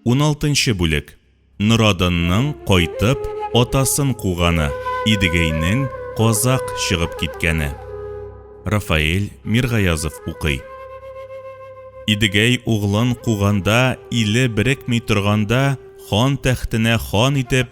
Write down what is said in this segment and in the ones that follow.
Уналтынчы бүлек. Норадынның кайтып, атасын куганы, Идегәйнең казак чыгып киткәне. Рафаэль Миргаязов укый. Идегәй углын куганда, иле берекми торганда, хан тәхтенә хан итеп,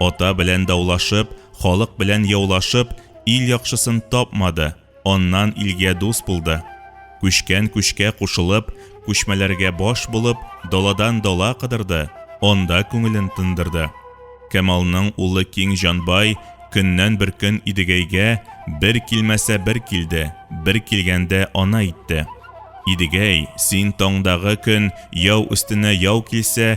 Ата белән даулашып, халык белән яулашып, ил яхшысын тапмады, аннан илгә дус булды. Күчкән күчкә кушылып, күчмәләргә баш булып, даладан дала кыдырды, анда күңелен тындырды. Камалның улы Киң Җанбай көннән бер көн Идегәйгә бер килмәсә бер килде, бер килгәндә ана итте. Идегәй, син таңдагы көн яу өстенә яу килсә,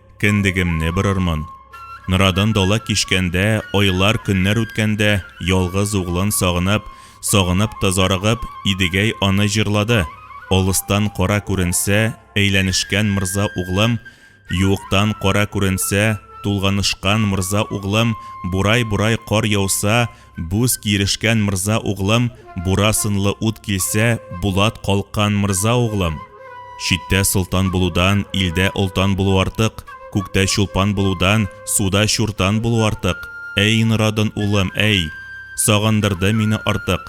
Кендегемне бырырмын. Норадын дала кичкәндә, айлар, көннәр үткәндә, ялгыз углын сагынып, сагынып та зарыгып, Идегәй аны җырлады. Алыстан кара күренсә, әйләнешкән морза углым, Юктан кара күренсә, тулганышкан морза углым, Бурай-бурай кар яуса, Буз кирешкән мырза углым, бура сынлы ут килсә, булат калккан мырза углым. Читтә солтан булудан, илдә олтан булу артык, күктә чулпан булудан, суда чуртан булу артык. Әй, Норадан улым, әй! Сагындырды мине артык.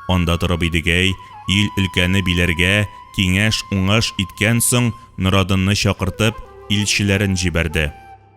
Анда торып идегәй, ил өлкәне биләргә, киңәш, уңаш иткән соң, Норадынны чакыртып, илчеләрен җибәрде.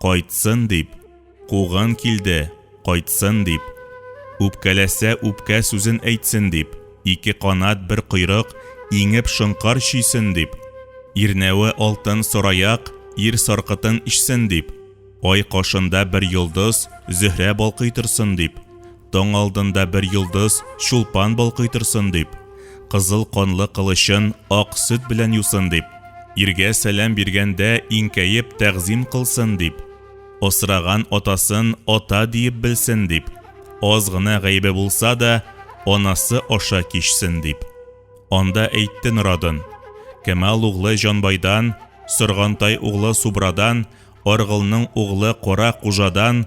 Кайтсын дип, куган килде, кайтсын дип. Үпкәләсә, үпкә сүзен әйтсен дип, ике канат, бер койрык, иңеп шонкар чөйсен дип. Ирнәве алтын сораяк, ир саркытын эчсен дип. Ай кашында бер йолдыз, Зөһрә балкый торсын дип. Таң алдында бер йолдыз чулпан балкый торсын дип, кызыл канлы кылычын ак сөт белән юсын дип, иргә сәлам биргәндә иңкәеп тәгъзим кылсын дип, асраган атасын ата диеп белсен дип, аз гына гаебе булса да, анасы аша кичсен дип. Анда әйтте Норадын. Кемал углы Җанбайдан, Соргантай углы Субрадан, Аргылның углы Кара Кужадан,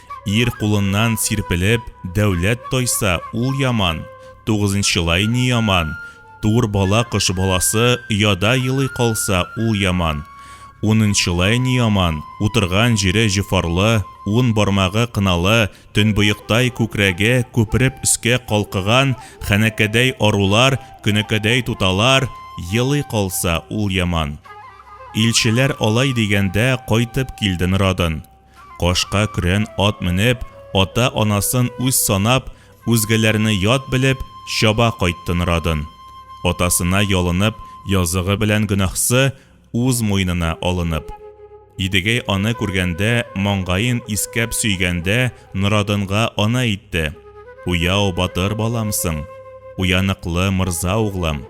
Ир кулыннан сирпелеп, дәүләт тайса, ул яман. Тугызынчылай ни яман. Тур бала кош баласы ояда елый калса, ул яман. Унынчылай ни яман. Утырган җире җофарлы, ун бармагы кыналы, төнбоектай күкрәге күпереп өскә калкыган хәнәкәдәй арулар, көнәкәдәй туталар елый калса, ул яман. Илчеләр алай дигәндә кайтып килде Норадын. Кашка көрән ат менеп, ата-анасын үз санап, үзгәләрне ят белеп, чаба кайтты Норадын. Атасына ялынып, языгы белән гөнаһсы үз муенына алынып. Идегәй аны күргәндә, маңгаен искәп сөйгәндә, Норадынга ана әйтте, Уяу, батыр баламсың. Уяныклы, морза углым.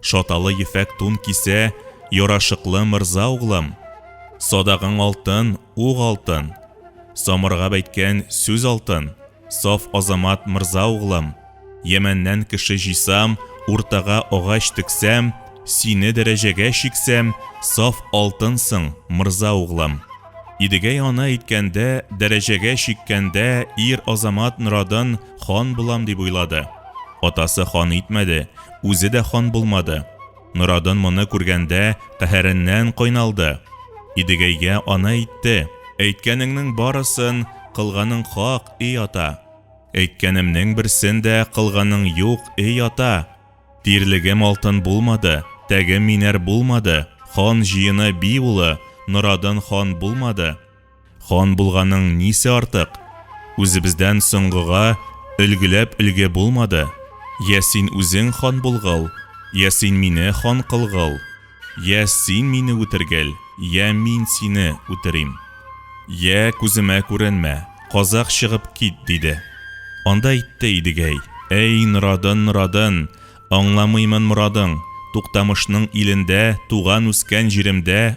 Шаталы ефәк тун кисә, Ярашыклы мырза углым. Садагың алтын, уг алтын. Самырга бәйткән сүз алтын. Саф азамат мырза углым. Ямәннән кеше җыйсам, Уртага агач тексәм, Сине дәрәҗәгә чиксәм, Саф алтынсың, мырза углым. Идегәй ана әйткәндә, Дәрәҗәгә чиккәндә, Ир-азамат норадын Хан булам дип уйлады. Атасы хан итмәде. Үзе дә хан булмады. Норадын моны күргәндә, каһәреннән кайналды. Идегәйгә аны әйтте. Әйткәнеңнең барысын, кылганың хак, эй ата. Әйткәнемнең берсен дә кылганың юк, эй ата. Тирлегем алтын булмады, тәгем минәр булмады, хан җыены би улы, Норадын хан булмады. Хан булганың нисе артык? Үзебездән соңгыга өлгеләп өлге булмады. Я син үзең хан булгыл, я син мине хан кылгыл, я син мине үтергел, я мин сине үтерим. Я күземә күренмә, казак чыгып кит, диде. Анда әйтте Идегәй, әй, Норадын, Норадын, аңламыймын морадың, Туктамышның илендә, туган-үскән җиремдә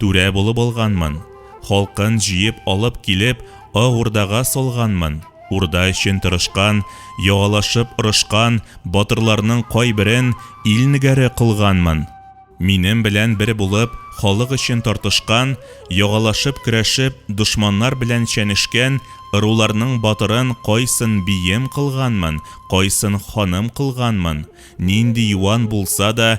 Түрә булып алганмын. Халкын җыеп алып килеп, Ак Урдага салганмын. Урда өчен тырышкан, яалашып орышкан батырларның кайберен ил нигәре кылганмын. Минем белән бер булып, халык өчен тартышкан, ягалашып көрәшеп, дошманнар белән чәнешкән ыруларның батырын кайсын бием кылганмын, кайсын ханым кылганмын, нинди юан булса да,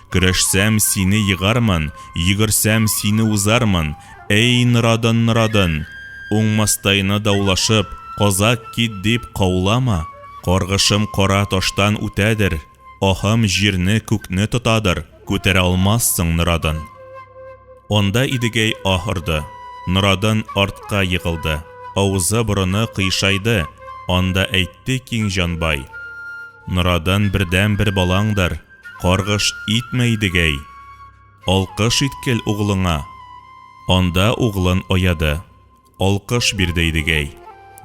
Көрәшсәм, сине егармын, Йөгерсәм, сине узармын, Әй, норадын, норадын! Уңмастайны даулашып, Казак кит дип каулама. Каргышым кара таштан үтәдер, Аһым җирне, күкне тотадыр. Күтәрә алмассың, норадын! Анда Идегәй аһ орды. Норадын артка егылды. Авызы-борыны кыйшайды. Анда әйтте Киң җанбай. Норадын бердәнбер балаңдыр. Каргыш итмә Идегәй. Алкыш иткел углыңа. Анда углын аяды. Алкыш бирде Идегәй.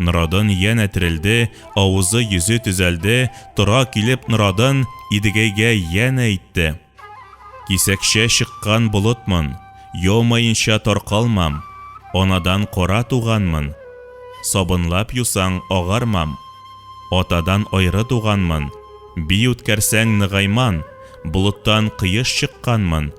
Норадын янә терелде, авызы, йөзе төзәлде, тора килеп Норадын Идегәйгә янә әйтте. Кисәкчә чыккан болытмын. Йомаенча таркалмам, Анадан кара туганмын, Сабынлап юсаң, агармам, Атадан аеры туганмын, Бии үткәрсәң, ныгайман, Болыттан коеш чыкканмын,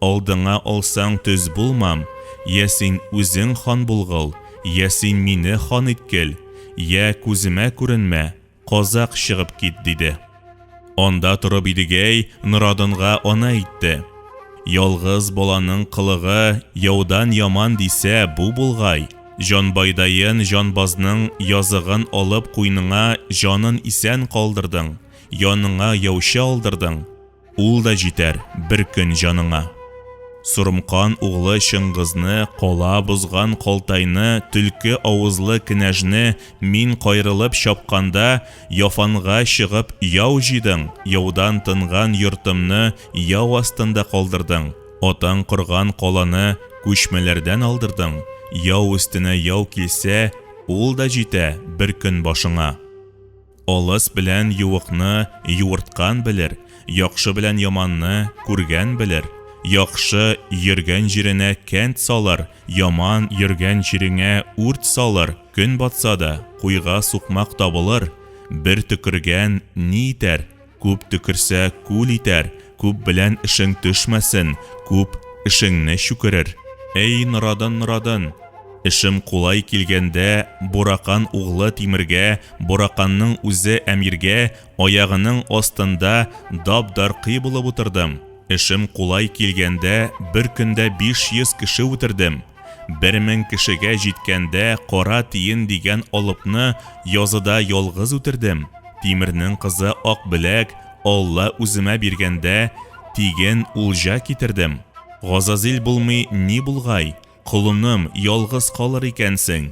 Алдыңа алсаң, төз булмам, Йә син үзең хан булгыл, Йә син мине хан иткел, Йә күземә күренмә, Казак чыгып кит, диде. Анда торып Идегәй Норадынга аны әйтте. Ялгыз баланың кылыгы яудан яман дисә, бу булгай, җанбайдаен җанбазның языгын алып куйныңа җанын исән калдырдың, яныңа яучы алдырдың, Ул да җитәр бер көн җаныңа. Сорымкан углы Чыңгызны, кала бозган Калтайны, төлке авызлы кенәжне мин кайрылып чапканда, Яфанга чыгып яу җыйдың, яудан тынган йортымны яу астында калдырдың, атаң корган каланы күчмәләрдән алдырдың, яу өстенә яу килсә, ул да җитә бер көн башыңа. Олыс белән юыкны юырткан белер, яхшы белән яманны күргән белер. Яхшы йөргән җиренә кәнт салыр, яман йөргән җиреңә үрт салыр, көн батса да, куйга сукмак табылыр, бер төкергән ни итәр? Күп төкерсә, күл итәр, Күп белән эшең төшмәсен, Күп эшеңне чүкерер. Әй, Норадын, Норадын! Эшем кулай килгәндә, Буракан углы Тимергә, Бураканның үзе әмиргә, Аягының астында дап-даркый булып утырдым. Эшем кулай килгәндә, Бер көндә биш йөз кеше үтердем. Бер мең кешегә җиткәндә кара тиен дигән алыпны языда ялгыз үтердем. Тимернең кызы Акбеләк Алла үземә биргәндә, тиген улҗа китердем. Газазил булмый ни булгай, колыным, ялгыз калыр икәнсең.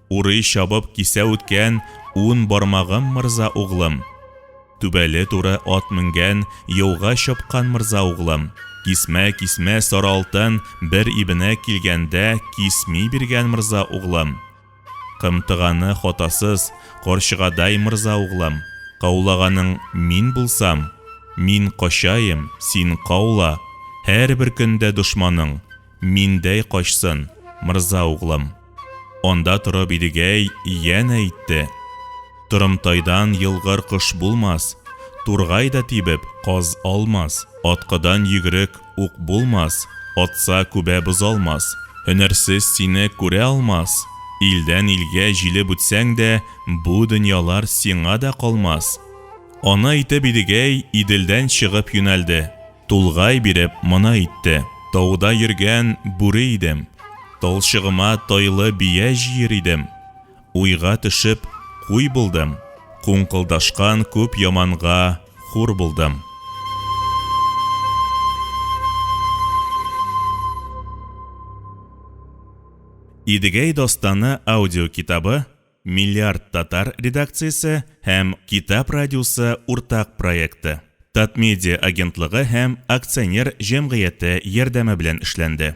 Урый чабып кисә үткән Ун бармагым мырза углым. Түбәле туры ат менгән Яуга чапкан мырза углым. Кисмә, кисмә, сары алтын, Бер ибенә килгәндә Кисми биргән мырза углым. Кымтыганы хатасыз, Карчыгадай мырза углым. Каулаганың мин булсам, Мин качаем, син каула, Һәрбер көндә дошманың, Миндәй качсын, мырза углым. Анда торып Идегәй янә әйтте, Торымтайдан елгыр кош булмас, Тургай да тибеп, каз алмас, Аткыдан йөгерек ук булмас, Атса күбә бозалмас. Һөнәрсез сине күрә алмас, Илдән илгә җилеп үтсәң дә, Бу дөньялар сиңа да калмас. Аны әйтеп Идегәй Иделдән чыгып юнәлде. Тулгай биреп моны әйтте. Тауда йөргән бүре идем. Талчыгыма тайлы бия җыер идем. Уйга төшеп, куй булдым. Куңкылдашкан күп яманга хур булдым. Идегәй дастаны аудиокитабы Миллиард татар редакциясе һәм Китап радиосы уртак проекты, Татмедиа агентлыгы һәм акционер җәмгыяте ярдәме белән эшләнде.